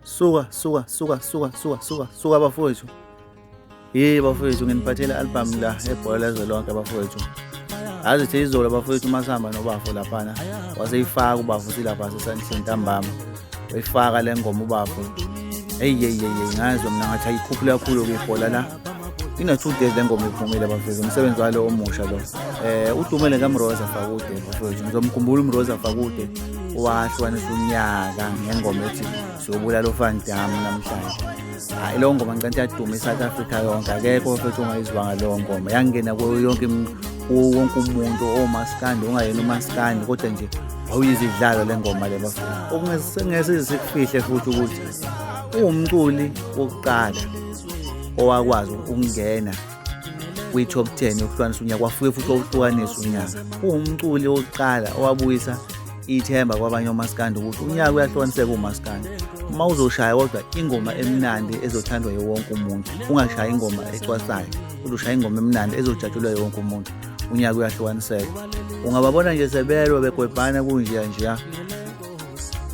suka suka suka suka suka suka suka bafowethu ye bafowethu nginiphathele album la ebhola lezwe lonke bafowethu yazi the izolo bafowethu uma sihamba nobafo laphana waseyifaka ubafo silapha sesandleni ntambama wayifaka le ngoma ubafo eyi yeyi yeyi ngazwa mina ngathi ayikhuphule kakhulu-ke ibhola la ina-two days le ngoma iphumile bafethu umsebenzi walo omusha lo um udumele kamroza fakude bafethu ngizomkhumbula umroza fakude wahlukanisa unyaka ngengoma ethi siyobulala ufandam namhlanje hayi leyo ngoma ngicanti yaduma i-south africa yonke akekho bafethu ongayizwanga leyo ngoma yangena kuyo yonke wonke umuntu omaskandi ongayena umaskandi kodwa nje wawuyizidlalo le ngoma le bafethu okungese sikufihle futhi ukuthi uwumculi wokuqala owakwazi ukungena kwi-top 10 yokuhlukanisa unyaka wafike futhi owuhlukanisa unyaka uwumculi wokuqala owabuyisa ithemba kwabanye omaskandi ukuthi unyaka uyahlukaniseka umaskandi uma uzoshaya kodwa ingoma emnandi ezothandwa yewonke umuntu ungashaya ingoma ecwasayo uzoshaya ingoma emnandi ezojatshulwa yewonke umuntu unyaka uyahlukaniseka ungababona nje sebelwa begwebhana kunjeya njeya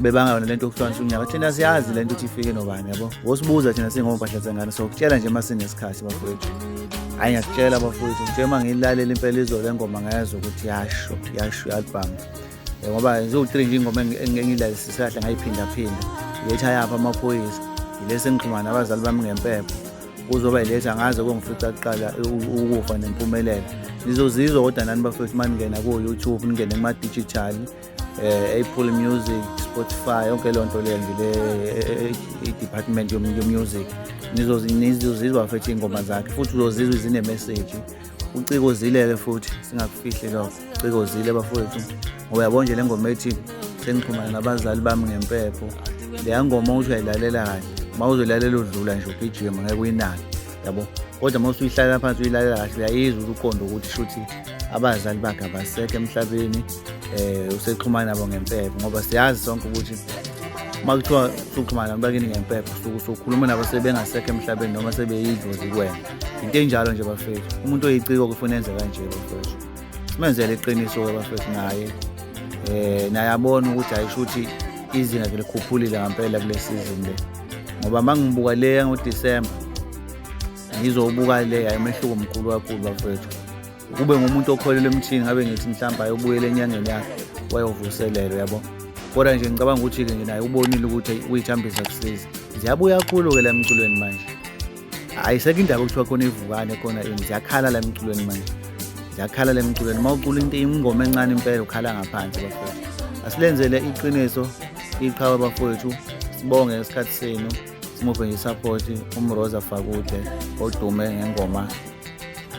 bebangayona lento yokuhlonisa unyaka thina siyazi lento ukuthi ifike nobani yabo wosibuza thina singompahla zengane so kutshela nje masinesikhathi bafowethu hayi ngiyakutshela bafowethu nje uma ngiyilalela impela izolo engoma ngayazi ukuthi yasho yasho i-album eh, ngoba ziwu-three nje ingoma engiyilalisise kahle ngayiphindaphinda iletha yapha amaphoyisa yilesi engixhumana abazali bami ngempepho kuzoba yiletha ngaze kongifica kuqala ukufa nempumelelo nizozizwa kodwa nani bafowethu uma ningena ko-youtube ningene kuma-digital eh, Apple Music, Spotify, yonke loo nto leyo nje le eh, eh, department yomusic nizozizwa futhi iy'ngoma zakhe futhi uzozizwa zinemeseji uciko zilele futhi singakufihli lokho uciko zile bafowethu ngoba yabo nje le ngoma ethi sengixhumana nabazali bami ngempepho leya ngoma ukuthi uyayilalela kahle uma uzoyilalela udlula nje ugijima ngeke uyinake yabo kodwa uma usuyihlalela phansi uyilalela kahle uyayizwa uqondo ukuthi shuthi abazali bakhe abasekho emhlabeni eh usexhumana nabo ngempepho ngoba siyazi sonke ukuthi uma kuthiwa usuxhumana nabantu bakini ngempepho usuke usukhuluma nabo sebengasekho emhlabeni noma sebeyidlozi kuwena into enjalo nje bafethu umuntu oyiciko kufuna enze kanje bafethu simenzele iqiniso-ke bafethu naye um naye abone ukuthi ayisho ukuthi izinga ke likhuphulile ngampela kule sizini le ngoba uma ngibuka le yangoDisemba ngizobuka le ayimehluko mkhulu kakhulu bafethu kube ngumuntu okholelwa emthini ngabe ngithi mhlawumbe ayobuyela enyangeni yakhe wayovuselelwa yabo kodwa nje ngicabanga ukuthi-ke nginaye ubonile ukuthi uyithambisa kusiza ziyabuya kakhulu-ke la emculweni manje hayi sekho indaba okuthiwa khona ivukane khona ini ziyakhala la emculweni manje ziyakhala la emculweni uma ucula into ingoma encane impela ukhala ngaphansi bafowethu asilenzele iqiniso iqhawe bafowethu sibonge isikhathi senu simuphe nje isapoti umroza fakude odume ngengoma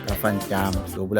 kafandam sobulala